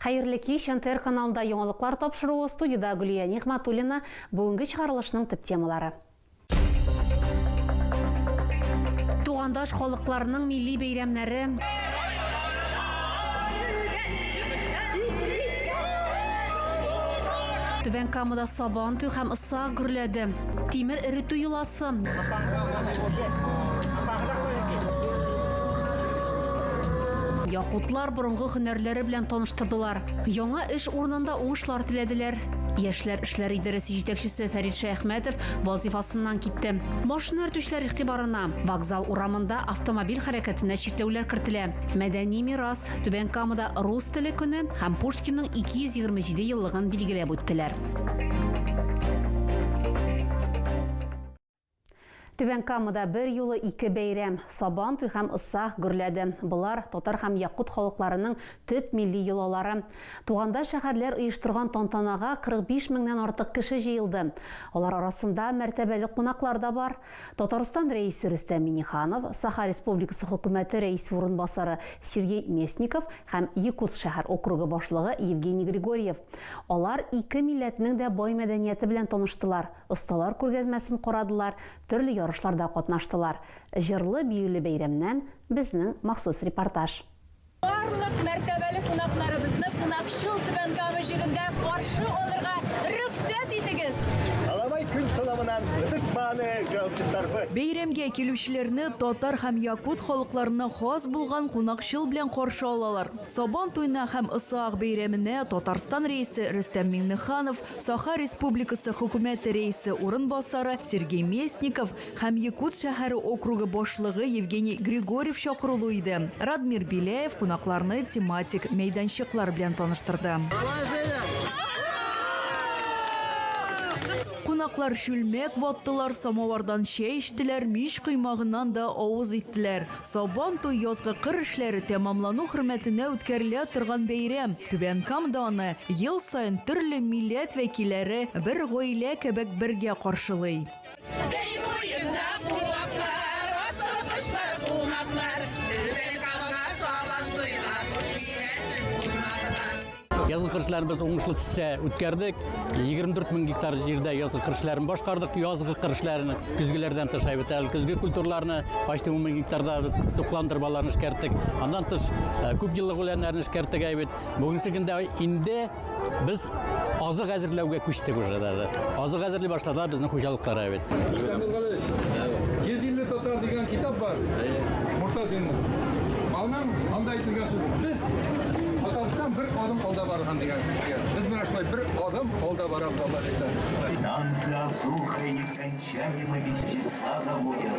Хәерле кич, НТР каналында яңалыклар тапшыруы, студида Гөлия Нигъматуллина, бүгенге чыгарылышның төп темалары. Тугандаш халыкларның милли бәйрәмнәре. Түбән Камада Сабан туй һәм Ыса гөрләде. Тимер эретү йоласы. Якутлар Борынгы һөнәрләре белән таныштырдылар, яңа эш урынында уңышлар теләделәр. Яшьләр эшләре идарәсе җитәкчесе Фәрит Шәяхмәтов вазыйфасыннан китте. Машина йөртүчеләр игътибарына, вокзал урамында автомобиль хәрәкәтенә чикләүләр кертелә. Мәдәни мирас, Түбән Камада Рус теле көне һәм Пушкинның 227 еллыгын билгеләп үттеләр. Түбән Камада бер юлы ике бәйрәм, Сабан туй һәм Ыссах гөрләде. Болар, татар һәм якут халыкларының төп милли йолалары. Тугандаш шәһәрләр оештырган тантанага 45 меңнән артык кеше җыелды. Алар арасында мәртәбәле кунаклар да бар. Татарстан Рәисе Рөстәм Миңнеханов, Саха Республикасы Хөкүмәте Рәисе урынбасары Сергей Местников һәм Якутск шәһәр округы башлыгы Евгений Григорьев. Алар ике милләтнең дә бай мәдәнияте белән таныштылар. Осталар күргәзмәсен карадылар, төрле ярышларда катнаштылар. Җырлы-биюле бәйрәмнән безнең махсус репортаж. Барлык мәртәбәле кунакларыбызны кунакчыл Түбән Кама җирендә каршы алырга рөхсәт итегез! Алабай көн сынавынан ныдыкманы галчыттарбы. Бәйрәмгә килүчеләрне татар һәм якут халыкларына хас булган кунакчыл белән каршы алалар. Сабан туена һәм Ысаак бәйрәменә Татарстан Рәисе Рөстәм Миңнеханов, Саха Республикасы Хөкүмәте Рәисе урынбасары Сергей Местников һәм Якутск шәһәре округы башлыгы Евгений Григорьев чакырулы иде. Радмир Беляев кунакларны тематик мәйданчыклар белән таныштырды. Кунаклар чүлмәк ваттылар, самавардан чәй эчтеләр, мич коймагыннан да авыз иттеләр. Сабан туй язгы кыр эшләре тәмамлану хөрмәтенә үткәрелә торган бәйрәм. Түбән Камда аны ел саен төрле милләт вәкилләре бер гаилә кебек бергә каршылый. Зәй буенда куаклар, асылкышлар, кунаклар, Түбән Камага Сабан туйга хуш киләсез, кунаклар. Язгы кыршларын без уңышлы төстә үткәрдек. 24 мең гектар җирдә язгы кыршларын башкардык. Язгы кыршларын көзгеләрдән тыш әйбәт әле көзге культураларны почти 10 мең гектарда без туклан дырбаларын эшкәрттек. Аннан тыш э, күп еллык үләннәрне эшкәрттек әйбәт. Бүгенге көндә инде без азык әзерләүгә күчтек уже даже. Азык әзерли башлады безнең хуҗалыклар әйбәт. Рөстәм Булгалыч, 150 татар дигән китап бар. Муртазинның. Аның анда әйтелгән сүз. Без Астан бер адым алда барган дигән сүз дигән. Без менә шулай бер адым алда барабыз Алла бирсә. Станция Асуха нескончаемый вещества заводят.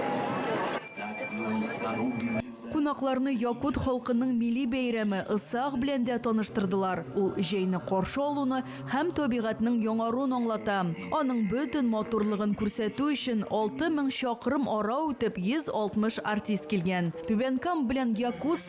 Так не установлены за. Кунакларны якут халкының милли бәйрәме Ысаак белән дә таныштырдылар. Ул җәйне каршы алуны һәм табигатьнең яңаруын аңлата. Аның бөтен матурлыгын күрсәтү өчен 6000 чакрым ара үтеп 160 артист килгән. Түбән Кама белән Якутск.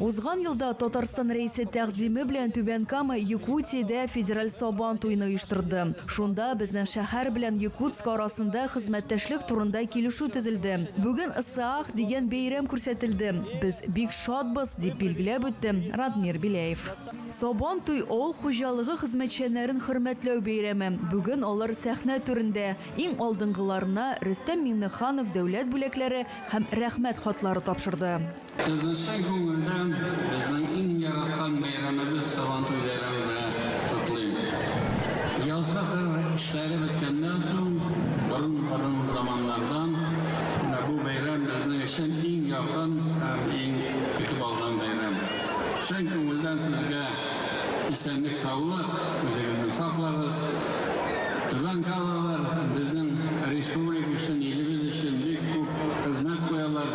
Узган елда Татарстан Рәисе тәкъдиме белән Түбән Кама, Якутиядә федераль Сабан туены оештырды. Шунда безнең шәһәр белән Якутск арасында хезмәттәшлек турында килешү төзелде. Бүген Ысыах дигән бәйрәм күрсәтелде. Без бик шатбыз, дип билгеләп үтте Радмир Беляев. Сабан туй, авыл хуҗалыгы хезмәтчәннәрен хөрмәтләү бәйрәме. Бүген алар сәхнә түрендә. Иң алдынгыларына Рөстәм Миңнеханов дәүләт бүләкләре һәм Рәхмәт хатлары тапшырды. Сезне чын күңелдән безнең иң яраткан бәйрәмебез Сабантуй бәйрәме белән котлыйм. Язгы кыр эшләре беткәннән соң, борын-борын заманнардан бу бәйрәм безнең өчен иң якын һәм иң көтеп алган бәйрәм. Чын күңелдән сезгә исәнлек-саулык, үзегезне саклагыз. Түбән Калалылар безнең республика өчен, илебез өчен бик күп хезмәт куялар.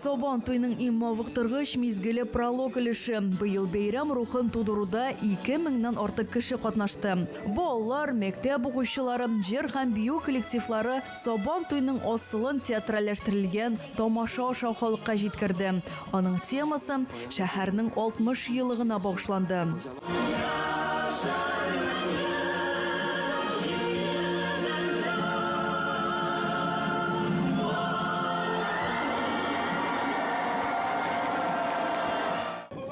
Сабан туйның иң мавыктыргыч мизгеле пролог өлеше. Быел бәйрәм рухын тудыруда 2 меңнән артык кеше катнашты. Балалар, мәктәп укучылары, җыр һәм бию коллективлары Сабан туйның асылын театральләштерелгән тамаша аша халыкка җиткерде. Аның темасы шәһәрнең 60 еллыгына багышланды.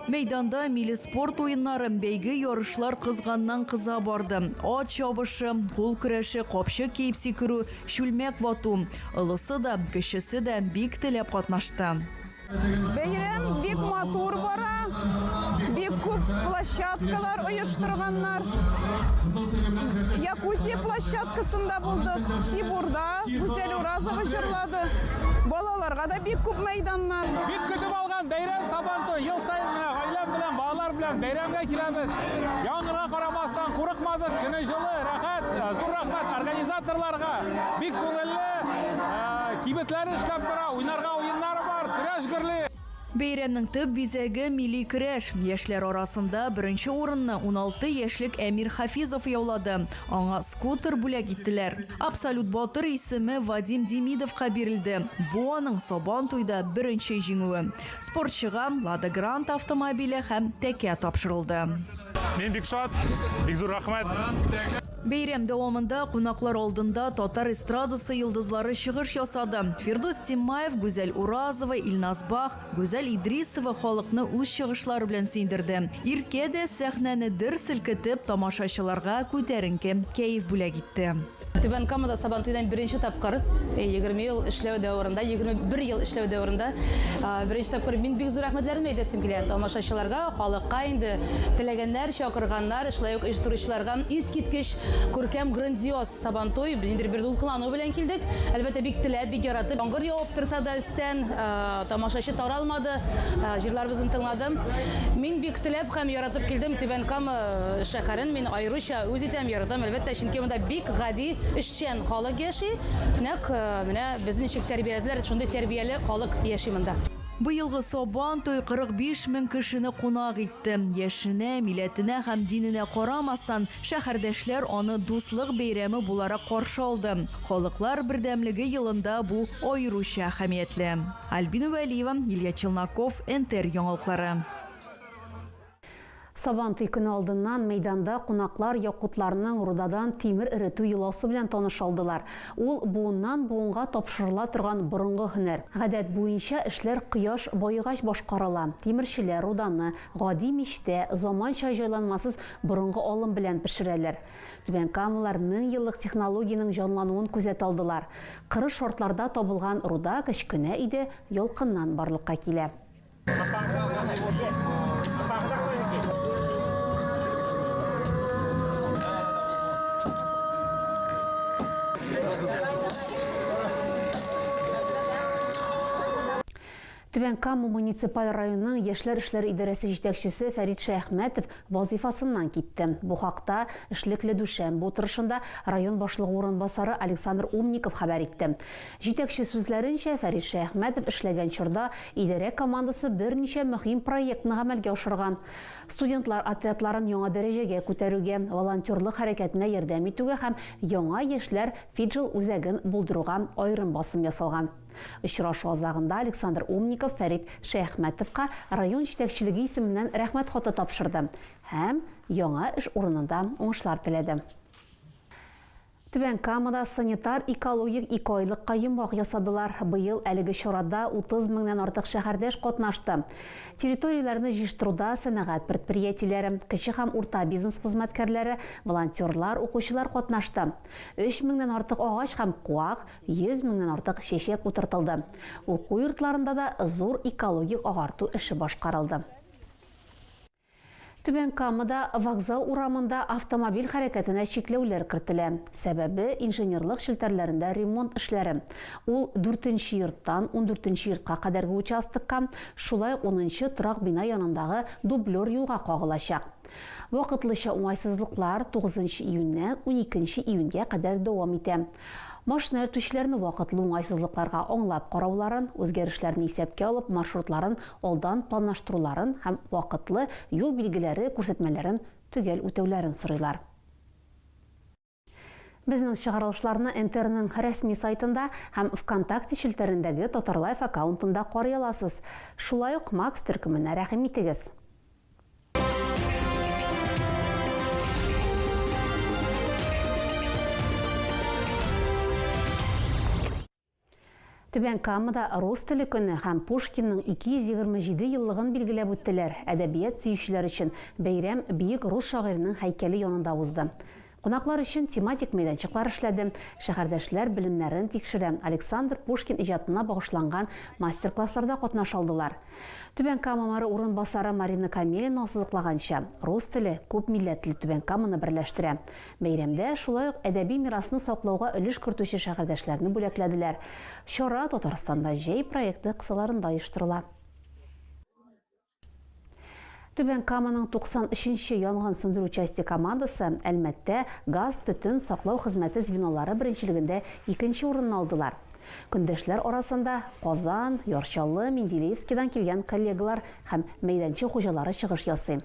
Мәйданда милли спорт уеннары, бәйге, ярышлар кызганнан-кыза барды. Ат чабышы, кул көрәше, капчык киеп сикерү, чүлмәк вату. Олысы да, кечесе дә бик теләп катнашты. Бәйрәм бик матур бара, бик күп площадкалар оештырганнар. Якутия площадкасында булдык, Сибурда Гүзәл Уразова җырлады. Балаларга да бик күп мәйданнар. Бик көтеп алган бәйрәм Сабантуй. Ел саен менә гаиләм белән, балалар белән бәйрәмгә киләбез. Яңгырга карамастан курыкмадык, көне җылы, рәхәт. Зур рәхмәт организаторларга. Бик күңелле, кибетләр эшләп тора, уйнарга Бәйрәмнең төп бизәге, милли көрәш. Яшьләр арасында беренче урынны 16 яшьлек Әмир Хафизов яулады. Аңа скутер бүләк иттеләр. Абсолют батыр исеме Вадим Демидовка бирелде. Бу аның Сабантуйда беренче җиңүе. Спортчыга Лада Гранта автомобиле һәм тәкә тапшырылды. Мин бик шат, бик зур рәхмәт. Бәйрәм дәвамында кунаклар алдында татар эстрадасы йолдызлары чыгыш ясады. Фирдус Тиммаев, Гүзәл Уразова, Илназ Бах, Гүзәл Идрисова халыкны үз чыгышлары белән сөендерде. Иркә дә сәхнәне дер селкетеп, тамашачыларга күтәренке кәеф бүләк итте. Түбән Камада Сабантуйның беренче тапкыр, 20 ел эшләү дәверендә, 21 ел эшләү дәверендә беренче тапкыр мин бик зур рәхмәтләремне әйтәсем килә тамашачыларга, халыкка инде теләгәннәр чакырганнар, шулай ук оештыручыларга. Искиткеч күркәм, грандиоз Сабантуй. Ниндидер бер дулкынлану белән килдек. Әлбәттә, бик теләп, бик яратып. Яңгыр явып торса да өстән, тамашачы таралмады, җырларыбызны тыңлады. Мин бик теләп һәм яратып килдем. Түбән Кама шәһәрен мин аеруча үз итәм, яратам, әлбәттә, чөнки монда бик гади, эшчән халык яши. Нәкъ менә безне ничек тәрбияләделәр, шундый тәрбияле халык яши монда. Быелгы Сабан туй 45 мең кешене кунак итте. Яшенә, милләтенә һәм диненә карамастан, шәһәрдәшләр аны дуслык бәйрәме буларак каршы алды. Халыклар бердәмлеге елында бу аеруча әһәмиятле. Альбина Вәлиева, Илья Челноков, НТР яңалыклары. Сабантуй көне алдыннан мәйданда кунаклар якутларның рудадан тимер эретү йоласы белән таныш алдылар. Ул, буыннан-буынга тапшырыла торган борынгы һөнәр. Гадәт буенча эшләр кояш баегач башкарыла. Тимерчеләр руданы гади мичтә, заманча җайланмасыз борынгы алым белән пешерәләр. Түбәнкамалылар меңьеллык технологиянең җанлануын күзәтә алдылар. Кырыс шартларда табылган руда кечкенә өйдә ялкыннан барлыкка килә. Түбән Кама муниципаль районының яшьләр эшләре идарәсе җитәкчесе Фәрит Шәяхмәтов вазифасыннан китте. Бу хакта эшлекле дүшәмбе утырышында район башлыгы урынбасары Александр Умников хәбәр итте. Җитәкче сүзләренчә, Фәрит Шәяхмәтов эшләгән чорда идарә командасы берничә мөһим проектны гамәлгә ашырган. Студентлар отрядларын яңа дәрәҗәгә күтәрүгә, волонтерлык хәрәкәтенә ярдәм итүгә һәм Яңа яшьләр Фиджел үзәген булдыруга аерым басым ясалган. Очрашу азагында Александр Умников Фәрит Шәяхмәтовка район җитәкчелеге исеменнән Рәхмәт хаты тапшырды һәм яңа эш урынында уңышлар теләде. Түбән Камада санитар-экологик икеайлыкка йомгак ясадылар. Быел әлеге чарада 30 меңнән артык шәһәрдәш катнашты. Территорияләрне җыештыруда сәнәгать предприятиеләре, кече һәм урта бизнес хезмәткәрләре, волонтерлар, укучылар катнашты. 3 меңнән артык агач һәм куак, 100 меңнән артык чәчәк утыртылды. Уку йортларында да зур экологик агарту эше башкарылды. Түбән Камада Вокзал урамында автомобиль хәрәкәтенә чикләүләр кертелә. Сәбәбе, инженерлык челтәрләрендә ремонт эшләре. Ул дүртенче йорттан ундүртенче йортка кадәрге участокка, шулай ук унынчы торак бина янындагы дублер юлга кагылачак. Вакытлыча уңайсызлыклар тугызынчы июньнән уникенче июньгә кадәр дәвам итә. Машина йөртүчеләрне вакытлы уңайсызлыкларга аңлап карауларын, үзгәрешләрне исәпкә алып маршрутларын алдан планлаштыруларын һәм вакытлы юл билгеләре, күрсәтмәләрен төгәл үтәүләрен сорыйлар. Безнең чыгарылышларны НТРның рәсми сайтында һәм ВКонтакте челтәрендәге Татарлайф аккаунтында карый аласыз. Шулай ук Макс төркеменә рәхим итегез. Түбән Камада рус теле көне һәм Пушкинның 227 еллыгын билгеләп үттеләр. Әдәбият сөючеләр өчен бәйрәм биек рус шагыйренең һәйкәле янында узды. Кунаклар өчен тематик мәйданчыклар эшләде, шәһәрдәшләр белемнәрен тикшерә, Александр Пушкин иҗатына багышланган мастер-классларда катнаша алдылар. Түбән Кама мэры урынбасары Марина Камелина ассызыклаганча, рус теле күп милләтле Түбән Каманы берләштерә. Бәйрәмдә шулай ук әдәби мирасны саклауга өлеш кертүче шәһәрдәшләрне бүләкләделәр. Чара Татарстанда җәй проекты кысаларында оештырыла. Түбән Каманың 93 нче янгын сүндерү часте командасы Әлмәттә газ-төтен саклау хезмәте звенолары беренчелегендә икенче урынны алдылар. Көндәшләр арасында Казан, Ярчалы, Менделеевскидан килгән коллегалар һәм мәйданчык хуҗалары чыгыш ясый.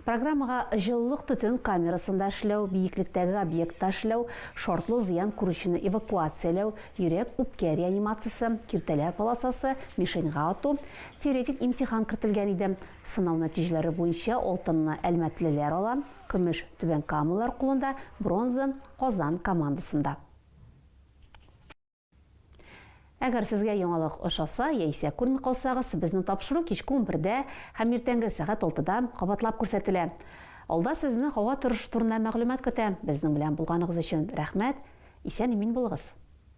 Программага җылылык төтен камерасында эшләү, биеклектәге объектта эшләү, шартлы зыян күрүчене эвакуацияләү, йөрәк-үпкә реанимациясе, киртәләр полосасы, мишеньга ату, Теоретик имтихан кертелгән иде. Сынау нәтиҗәләре буенча алтынны әлмәтлеләр ала, көмеш, Түбән Камалар кулында, бронза, Казан командасында. Әгәр сезгә яңалык ошаса яисә күрми калсагыз, безнең тапшыру кичке унбердә һәм иртәнге сәгать алтыда кабатлап күрсәтелә. Алда сезне һава торышы турында мәгълүмат көтә. Безнең белән булганыгыз өчен рәхмәт! Исән-имин булыгыз!